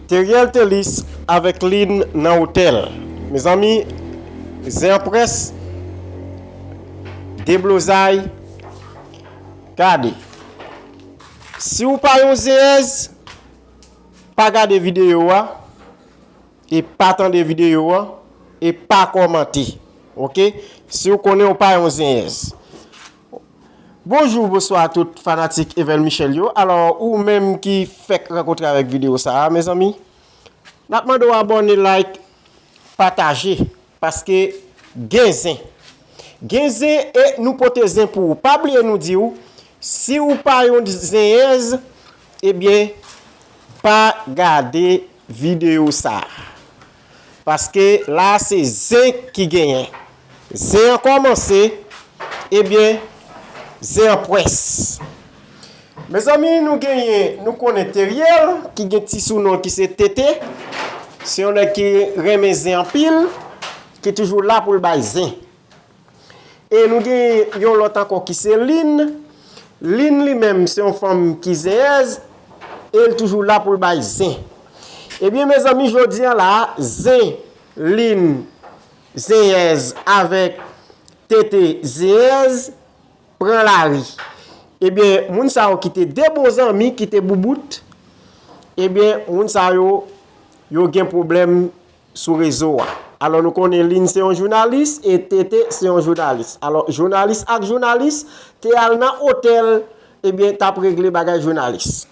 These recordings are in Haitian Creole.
Teriel Thelus avèk Lynn nan otèl. Mezanmi zen an près deblozay gade si ou pa yon zenyèz pa gade videyo a e pa tande videyo a e pa kòmante ok si ou konnen ou pa yon zenyèz. Bonjou bonswa a tout fanatik Evel Michel yo alò ou menm ki fèk rankontre avèk video sa a mezanmi nap mande w abòne like pataje paske gen zen gen zen e nou pote zen pou ou pa bliye nou di w si w pa yon zenyèz ebyen pa gade video sa a. Paske la se zen ki genyen. Zen an kòmanse, ebyen zen an pwès. Mezanmi nou genyen, nou konnen Teriel ki gen ti sou non ki se TT, se yon nèg ki renmen zen anpil, ki toujou la pou l bay zen. E nou gen yon lòt ankò ki se Lin. Lin li menm se yon fanm ki zenyèz. E l toujou la pou l bay zen. Ebyen mezanmi jodi an la, zen Lin zenyèz avèk tete zenyèz pran lari. Ebyen moun sa yo ki te 2 bon zanmi ki te boubout. Ebyen moun sa yo yo gen pwoblèm sou rezo a. Alò nou konnen Lynn se yon jounalis e TT se yon jounalis. Alò jounalis ak jounalis te al nan otèl ebyen tap regle bagay jounalis.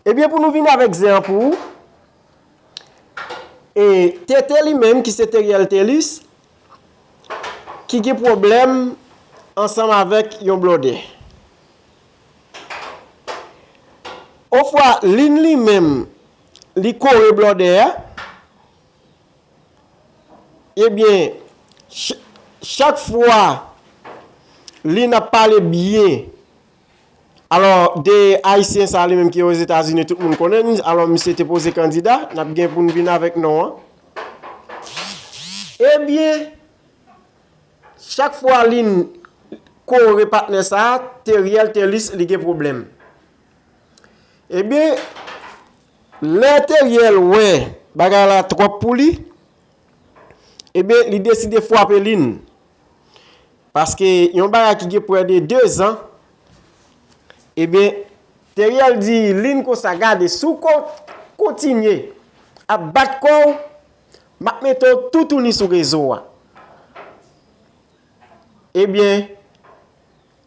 Ebyen pou nou vini avèk zen an pou ou, e TT li menm ki se Theriel Thelus ki gen pwoblèm ansanm avèk yon blòdè. Ofwa Lynn li menm. Li kore blòdè a. Ebyen, chak fwa li nan pale byen, alò de Ayisyen sa li menm ki Ozetazini tout moun konnen li, alò misye te poze kandida, n ap gen pou n vin avèk non an. Ebyen, chak fwa li kore patnè sa, Teriel Telus li gen pwoblèm. Ebyen, lè Teriel wè bagay la twòp pou li, ebyen li deside fwape Lynn. Paske yon bagay ki gen pwè de 2 zan, ebyen Teriel di Lynn konsa gade si w kontinye ap bat kò w, m ap mete w toutouni sou rezo a. Ebyen.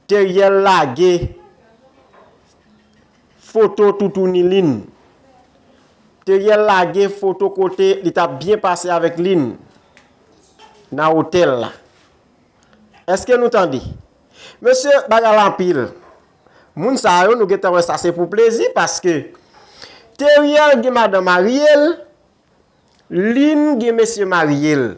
Teriel lage foto toutouni Lynn. Teriel lage foto kote li tap byen pase avèk Lynn nan otèl la. Eske nou tande? Mesye bagay la anpil. Moun sa yo nou gentan wè sa se pou plezi paske Teriel gen madan marye l, Lynn gen mesye maryel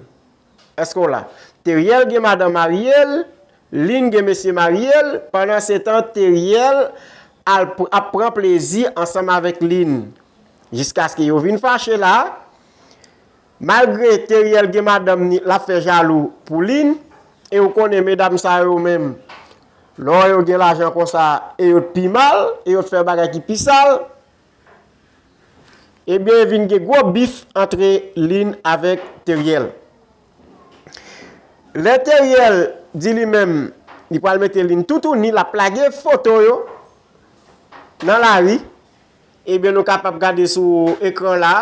Eske w la? Teriel gen madan maryel Lynn gen mesye maryel Pandan se tan Teriel al ap pran plezi ansanm avèk Lynn Jiskaske yo vin fache la Malgre Teriel gen madanm ni lap fè jalou pou Lynn E ou konnen medam sa yo menm Lè w wè yo gen lajan konsa e yo t pi mal e yo t fè bagay ki pi sal. Ebyen vin gen gwo bif antre Lynn avèk Theriel. Lè Theriel di li menm li pral mete Lynn toutouni lap lage foto yo nan lari, ebyen nou kapab gade sou ekran la,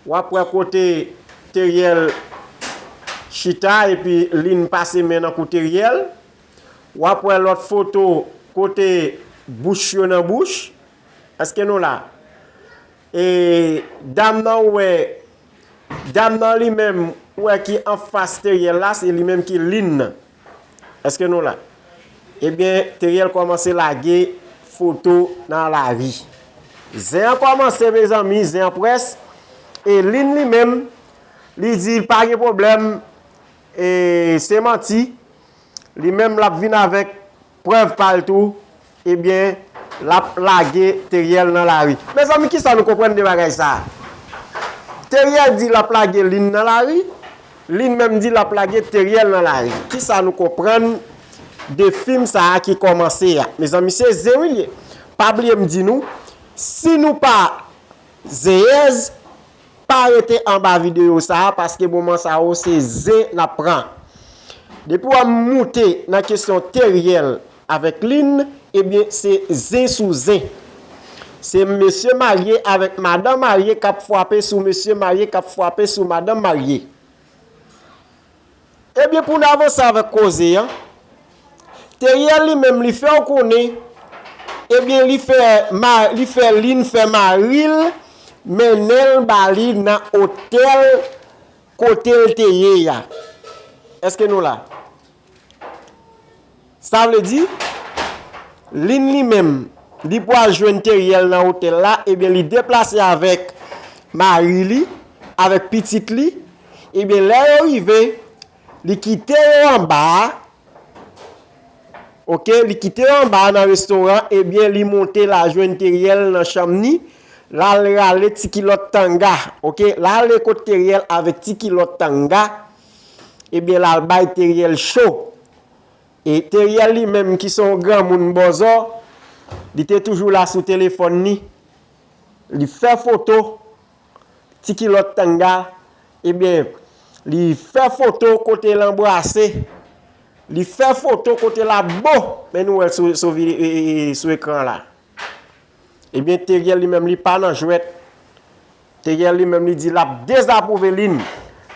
wap wè kote Theriel chita epi Lynn pase men nan kou Theriel, wap wè lòt foto kote bouch yo nan bouch, Eske nou la? E dam nan ou wè, dam nan li menm ou wè ki anfas Teriel la se li menm ki Lynn nan. Eske nou la? Ebyen Teriel kòmanse lage foto nan lari. Zen an kòmanse mezanmi, zen an près. E Lynn li menm, li di pa gen pwoblèm, e se manti. Li menm l ap vin avèk Prèv pa l tou, ebyen l ap lage Theriel nan lari. Mezanmi kisa nou konprann de bagay sa a? Theriel di l ap lage Lynn nan lari, Lynn menm di l ap lage Theriel nan lari. Kisa nou konprann de fim sa a ki kòmanse a? Mezanmi se zen wi l ye. Pa bliye m di nou, si nou pa zenyèz, Pa rete anba video sa a paske moman sa yo se zen n ap pran. Depi w moute nan kesyon Theriel avèk Lynn ebyen se zen sou zen. Se mesye marye avèk madan marye k ap fwape sou mesye marye k ap fwape sou madan marye. Ebyen pou n avanse avèk koze an, Theriel li menm li fè w konnen ebyen li fè li fè Lynn fè mari l mennen l ba li nan otèl kote l te ye a. Eske nou la? Sa vle di, Lynn li menm, li pwal jwenn Theriel nan otèl la, ebyen li deplase avèk mari li, avèk pitit li, ebyen lè yo rive, li kite yo anba a, ok, li kite yo anba a nan restoran, ebyen li monte la jwenn Theriel nan chanm ni, lal rale ti kilòt tanga, ok, lale kot Theriel avèk ti kilòt tanga, ebyen lal bay Theriel cho, E Theriel li menm ki son granmoun bòzò, li te toujou la sou telefòn li, li fè foto ti kilòt tanga, ebyen li fè foto kote l anbrase, li fè foto kote l ap bo, men nou wè l sou ekran la. Ebyen Theriel li menm li pa nan jwèt Theriel li menm li di lap dezapwouve Lynn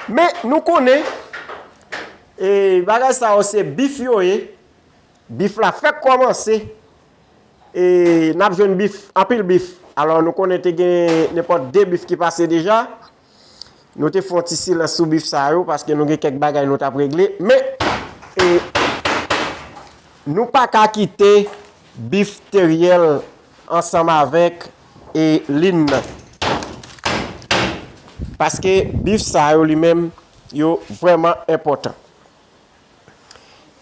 men nou konnen e bagay sa yo se bif yo ye bif la fèk kòmanse e nap jwenn bif anpil bif alò nou konnen te gen nenpòt 2 bif ki pase deja Nou te fè yon ti silans sou bif sa yo paske nou gen kèk bagay nou t ap regle. Men, nou pa ka kite bif Theriel ansanm avèk Lynn nan. Paske bif sa yo li menm yo vrèman enpòtan.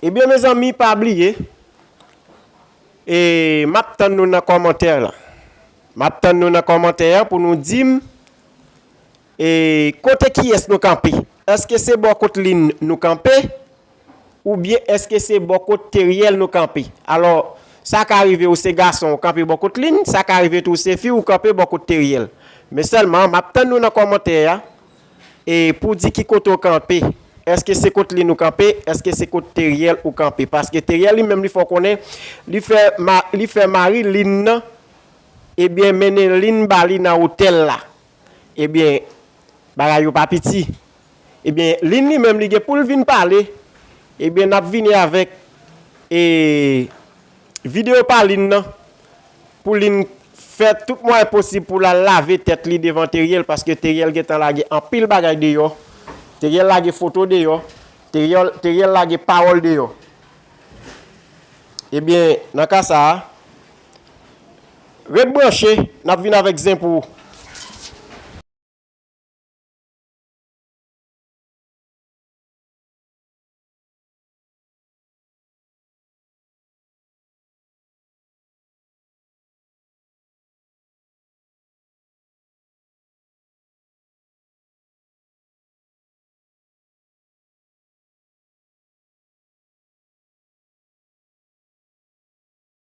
Ebyen mezanmi pa bliye, m ap tann nou nan kòmantè la. M ap tann nou nan kòmantè an pou nou di m E kote kiyès nou kanpe? Èske se bò kot Lynn nou kanpe? Oubyen èske se bò kot Theriel nou kanpe? Alò, sa ka rive ou se gason ou kanpe bò kot Lynn, sa ka rive tou ou se fi ou kanpe bò kot Theriel. Men sèlman, m ap tann nou nan kòmantè a e pou di ki kote ou kanpe. Èske se kot Lynn ou kanpe? Èske se kot Theriel ou kanpe? Paske Theriel li menm li fè w konnen li fè mari Lynn nan Ebyen mennen linn ba li nan otèl la. Ebyen bagay yo pa piti. Ebyen linn li menm li gen poul vin pale. Ebyen nap vini avèk e video pa linn nan. Pou linn fè tout mwayen posib poul al lave tèt li devan Teriel. Paske Teriel gentan lage anpil bagay deyò. Teriel lage foto deyò. Teriel lage pawòl deyò. Ebyen nan ka sa a. Ret branche, n ap vin avèk zen pou ou.